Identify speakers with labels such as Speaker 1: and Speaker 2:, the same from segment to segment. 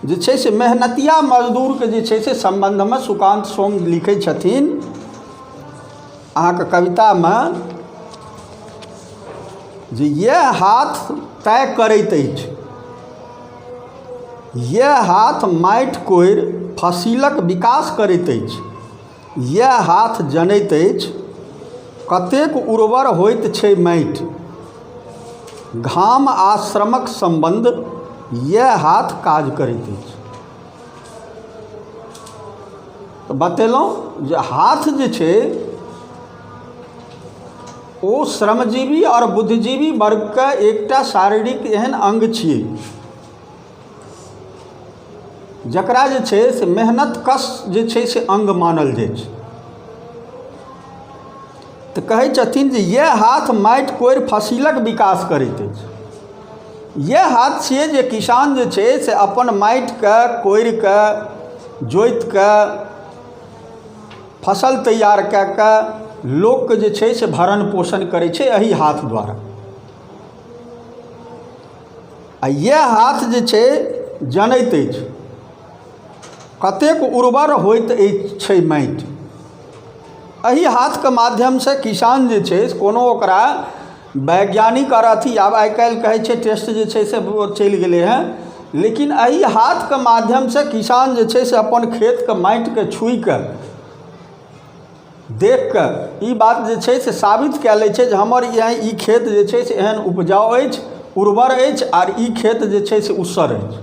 Speaker 1: जे छै से मेहनतिया मजदूरके जे छै से सम्बन्धमे सुकान्त सोम लिखै छथिन अहाँके कवितामे जे यह हाथ तय करैत अछि यह हाथ माटि कोरि फसिलक विकास करैत अछि इएह हाथ जनैत अछि कतेक उर्वर होइत छै माटि घाम आ श्रमक सम्बन्ध इएह हाथ काज करैत अछि तऽ बतेलहुँ जे हाथ जे छै ओ श्रमजीवी आओर बुद्धिजीवी वर्गके एकटा शारीरिक एहन अङ्ग छियै जकरा जे छै से मेहनतकश जे छै से अङ्ग मानल जाइ छै तऽ कहै छथिन जे इएह हाथ माटि कोरि फसिलक विकास करैत अछि इएह हाथ छियै जे किसान जे छै से अपन माटिके कोरि कऽ जोति कऽ फसल तैयार कए कऽ लोकके जे छै से भरण पोषण करै छै एहि हाथ द्वारा आ इएह हाथ जे छै जनैत अछि कतेक उर्वर होइत अछि छै माटि एहि हाथके माध्यमसँ किसान जे छै से कोनो ओकरा वैज्ञानिक आओर अथी आब आइ काल्हि कहै छै टेस्ट जे छै से ओ चलि गेलै हेँ लेकिन एहि हाथके माध्यमसँ किसान जे छै से अपन खेतके माटिकेँ छुइ कऽ देखि कऽ ई बात जे छै से साबित कए लै छै जे हमर इएह ई खेत जे छै से एहन उपजाउ अछि उर्वर अछि आर ई खेत जे छै से ऊसर अछि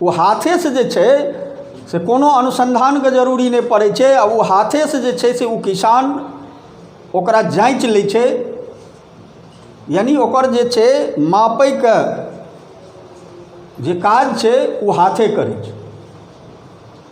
Speaker 1: ओ हाथेसँ जे छै से कोनो अनुसन्धानके जरूरी नहि पड़ै छै आ ओ हाथेसँ जे छै से ओ किसान ओकरा जाँचि लै छै यानि ओकर जे छै मापयके जे काज छै ओ हाथे करै छै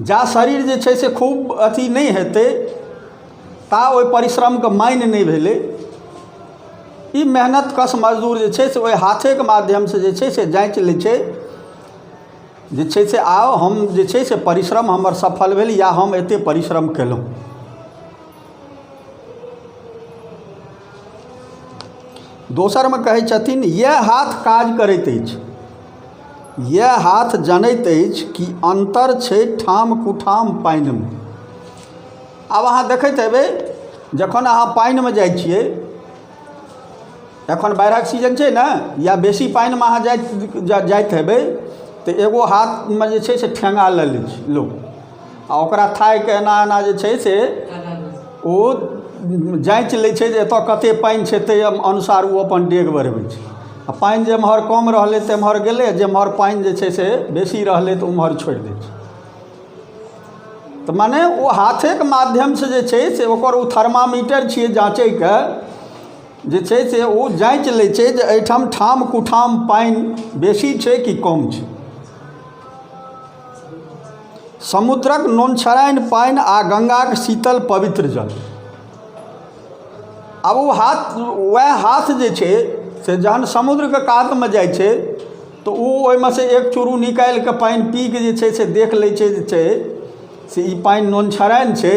Speaker 1: जा शरीर जे छै से खूब अथी नहि हेतै ता ओहि परिश्रमके मानि नहि भेलै ई मेहनतकश मजदूर जे छै से ओहि हाथेके माध्यमसे जे छै से जाँचि लै छै जे छै से आउ हम जे छै से परिश्रम हमर सफल भेल या हम एतेक परिश्रम कएलहुँ दोसरमे कहै छथिन इएह हाथ काज करैत अछि इएह हाथ जनैत अछि कि अन्तर छै ठाम कुठाम पानिमे आब अहाँ देखैत हेबै जखन अहाँ पानिमे जाइ छियै एखन बाढ़िक सीजन छै ने या बेसी पानिमे अहाँ जाइत जाइत हेबै तऽ एगो हाथमे जे छै से ठेङ्गा लऽ लै छै लोक आ ओकरा थाकि कऽ एना एना जे छै से ओ जाँचि लै छै जे एतय कतेक पानि छै ताहि अनुसार ओ अपन डेग बढ़बै छै आ पानि जेम्हर कम रहलै तेम्हर गेलै आ जेम्हर पानि जे छै से बेसी रहलै तऽ ओम्हर छोड़ि दै छै तऽ मने ओ हाथेके माध्यमसँ जे छै से ओकर ओ थर्मामीटर छियै जाँचयके जे छै से ओ जाँचि लै छै जे एहिठाम ठाम कुठाम पानि बेसी छै कि कम छै समुद्रक नोनछराइन पानि आ गङ्गाक शीतल पवित्र जल आब ओ हाथ उएह हाथ जे छै से जखन समुद्रके कातमे जाइ छै तऽ ओ ओहिमे सँ एक चुरू निकालि कऽ पानि पी कऽ जे छै से देख लै छै जे छै से ई पानि नोनछराइन छै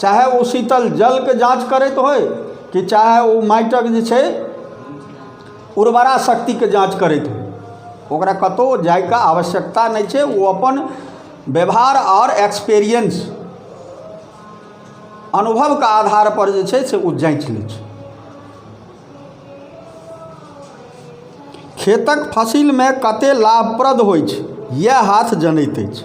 Speaker 1: चाहे ओ शीतल जलके जाँच करैत होइ कि चाहे ओ माटिक जे छै उर्वरा शक्तिके जाँच करैत होइ ओकरा कतहु जाइके आवश्यकता नहि छै ओ अपन व्यवहार आओर एक्सपीरियंस अनुभवके आधारपर जे छै से ओ जाँचि लै छै खेतक फसिलमे कतेक लाभप्रद होइत छै इएह हाथ जनैत अछि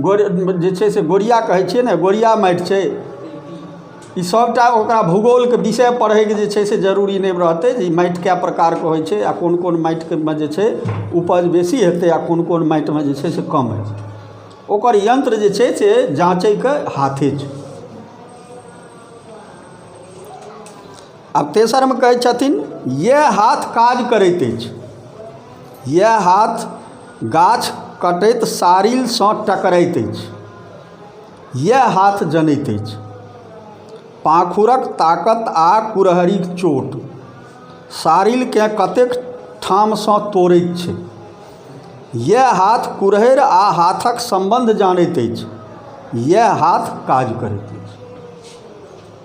Speaker 1: गोर जे छै से गोरिया कहै छियै ने गोरिया माटि छै ई सभटा ओकरा भूगोलके विषय पढ़ैके जे छै से जरूरी नहि रहतै जे ई माटि कए प्रकारके होइ छै आ कोन कोन माटिमे जे छै उपज बेसी हेतै आ कोन कोन माटिमे जे छै से कम हेतै ओकर यन्त्र जे छै से जाँचयके हाथे छै आ तेसरमे कहै छथिन इएह हाथ काज करैत अछि इएह हाथ गाछ कटैत साड़िलसँ टकरैत अछि इएह हाथ जनैत अछि पाखुरक ताकत आ कुरहरिक चोट साड़िलकेँ कतेक ठामसँ तोड़ैत छै इएह हाथ कुरहैर आ हाथक सम्बन्ध जानैत अछि इएह हाथ काज करैत अछि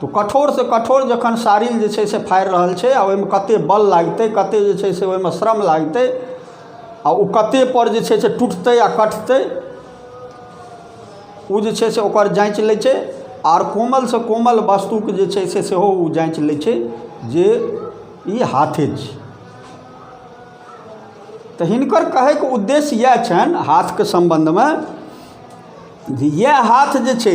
Speaker 1: तऽ कठोरसँ कठोर जखन साड़ी जे छै से फाड़ि रहल छै आ ओहिमे कतेक बल लागतै कतेक जे छै से ओहिमे श्रम लागतै आ ओ कतेकपर जे छै से टुटतै आ कटतै ओ जे छै से ओकर जाँच लै छै आर कोमलसँ कोमल वस्तुके जे छै से सेहो ओ जाँच लै छै जे ई हाथे छी तऽ हिनकर कहयके उद्देश्य इएह छनि हाथके सम्बन्धमे जे इएह हाथ जे छै